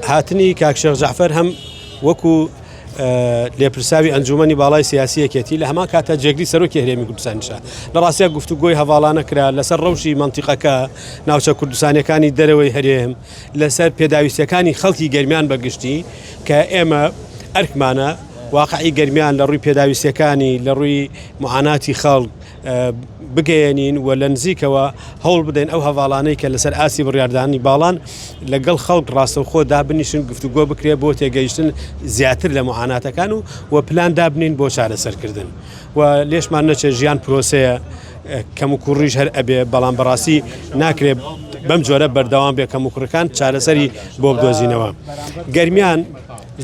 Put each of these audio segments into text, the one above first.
هاتنی کاک شێخ جەعفەر هەم وەکو لێپرساوی ئەنجومی باڵای سیاسیەکێتی لە هەمان کاتە جێگری سەرۆکی هەرێمی کوردستانشە لە ڕاستە گفتو گۆی هەواڵانە کرا لەسەر ڕەوشی منتیقەکە ناوچە کوردستانەکانی دەرەوەی هەرێم لەسەر پێداویستەکانی خەڵکی گەرمیان بەگشتی کە ئێمە ئەرکمانە واقعی گەرمیان لە ڕووی پێداویستەکانی لە ڕووی معاناتی خەڵک بگەیەنین و لە نزیکەوە هەوڵ بدەین ئەو هەڤاڵانەی کە لەسەر ئاستی بڕیاردانی باڵان لەگەڵ خەڵک ڕاستەوخۆ دابنیشن گفتوگۆ بکرێت بۆ تێگەیشتن زیاتر لە معاناتەکان و و پلان دابنین بۆ چارەسەرکردن و لێشمان نەچێت ژیان پرۆسەیە کەم و کوڕیش هەر ئەبێ بەڵام بەڕاستی ناکرێت بەم جۆرە بەردەوام بێ کەم و کوڕەکان چارەسەری بۆ بدۆزینەوە گەرمیان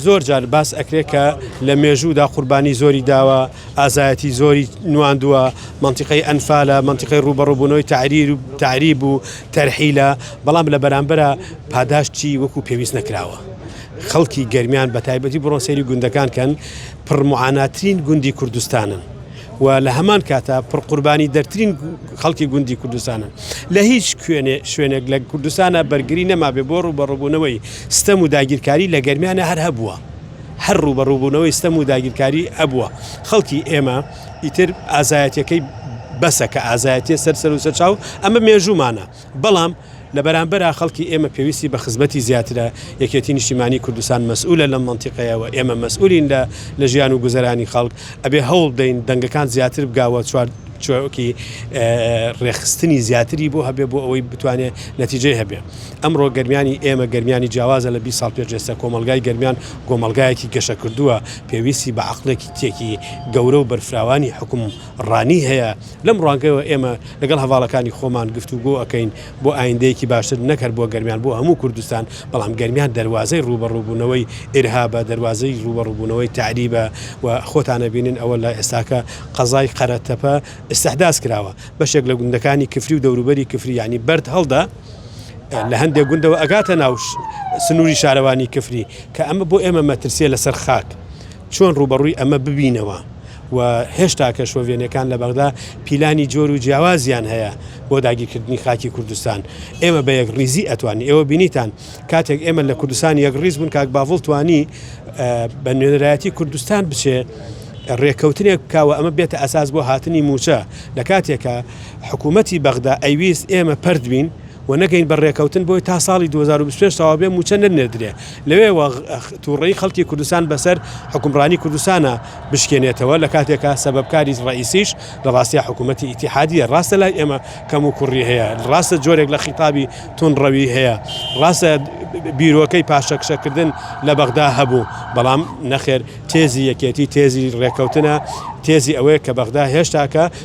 زۆر جار باس ئەکرێت کە لە مێژوودا قوربانی زۆری داوە، ئازایەتی زۆری نواندووە، مەنتیقەی ئەنفالە، مەنتیقەی ڕووبەڕووبوونەوەی تەعریر و تەعریب و تەرحیلە، بەڵام لە بەرامبەرا پاداشتی وەکو پێویست نەکراوە. خەڵکی گەرمیان بە تایبەتی بڕۆن سەیری گوندەکان کەن، پڕ معاناترین گوندی کوردستانن. و لە هەمان کاتا پڕقوربانی دەرترین خەڵکی گوندی کوردستانن لە هیچ کوێنێ شوێنێک لە کوردستانە بەرگری نەمابێ بۆ ڕوبەڕبوونەوەی ستەم و داگیرکاری لە گەرمیانە هەر هەبووە هەر ڕوبەڕوبوونەوەی ستەم و داگیرکاری ئەبووە خەڵکی ئێمە ئیتر ئازایەتەکەی بەسە کە ئازایەتە سەر سەر و سەرچاو ئەمە مێژوومانە. بەڵام لە بەرامبەرا خەڵکی ئێمە پێویستی بە خزمەتی زیاترە، یەکێتی نیشتیمانی کوردستان مەسئولە لەم مەنتیقەیە و ئێمە مەسئولین لە لە ژیان و گوزەرانی خەڵک، ئەبێ هەوڵ بدەین دەنگەکان زیاتر بگا و چواکی رێکخستنی زیاتری بۆ هەبێ بۆ ئەوەی بتوانێ نەتیجەی هەبێ. ئەمڕۆ گەرمیانی ئێمە گەرمیانی جیاوازە لە بیست ساڵ پێشێستا کۆمەڵگای گەرمیان کۆمەڵگایەکی گەشەکردووە پێویستی بە عەقڵێکیتێکی گەورە و بەرفراوانی حکوم ڕانی هەیە، لەم ڕوانگەیەوە ئێمە لەگەڵ هەڤاڵەکانی خۆمان گفتوگۆ ئەکەین بۆ ئایندەیەکی باشتر نەک هەر بۆ گەرمیان بۆ هەموو کوردستان، بەڵام گەرمیان دەروازەی ڕووبەڕووبوونەوەی ئیرهابە، دەروازەی ڕووبەڕووبوونەوەی تەعریبە و خۆتان ئەبینن ئەوە لە ئێستاکە قەزای قەرەتەپە ئیستحداس کراوە بەشێک لە گوندەکانی کفری و دەوروبەری کفری یانی بەرد هەڵدە لە هەندێک گوندەوە ئەگاتە ناو سنووری شارەوانی کفری کە ئەمە بۆ ئێمە مەترسیە لەسەر خاک. چۆن ڕووبەڕووی ئەمە ببینەوە و هێشتاکە شۆڤێنەکان لە بەغدا پیلانی جۆر و جیاوازیان هەیە بۆ داگیرکردنی خاکی کوردستان ئێمە بە یەک ڕیزی ئەتوانی ئێوە بینیتان کاتێک ئێمە لە کوردستان یەک ڕیز بوون کاک باڤڵ توانی بە نوێنەرایەتی کوردستان بچێ ڕێککەوتنێک بکەوە ئەمە بێتە ئەساس بۆ هاتنی موچە لە کاتێکە حکوومەتتی بەغدا ئەیویست ئێمە پردبین و نەگەین بە رێکەوتن بۆی تا ساڵی دوو هەزار و بیست و پێنج تەواو بێ مووچە نەنێردرێ لەوێوە توڕەیی خەڵکی کوردستان بەسەر حوکمڕانی کوردستانا بشکێنێتەوە لە کاتێکا سەبەبکاری رەئیسیش لە راستیا حکوومەتی ئیتیحادییە راستە لای ئێمە کەم و کوڕی هەیە راستە جۆرێک لە خیتابی توندڕەوی هەیە راستە بیرۆکەی پاشەکشەکردن لە بەغدا هەبوو بەڵام نەخێر تێزی یەکێتی تێزی رێکەوتنە تێزی ئەوەیە کە بەغدا هێشتاکە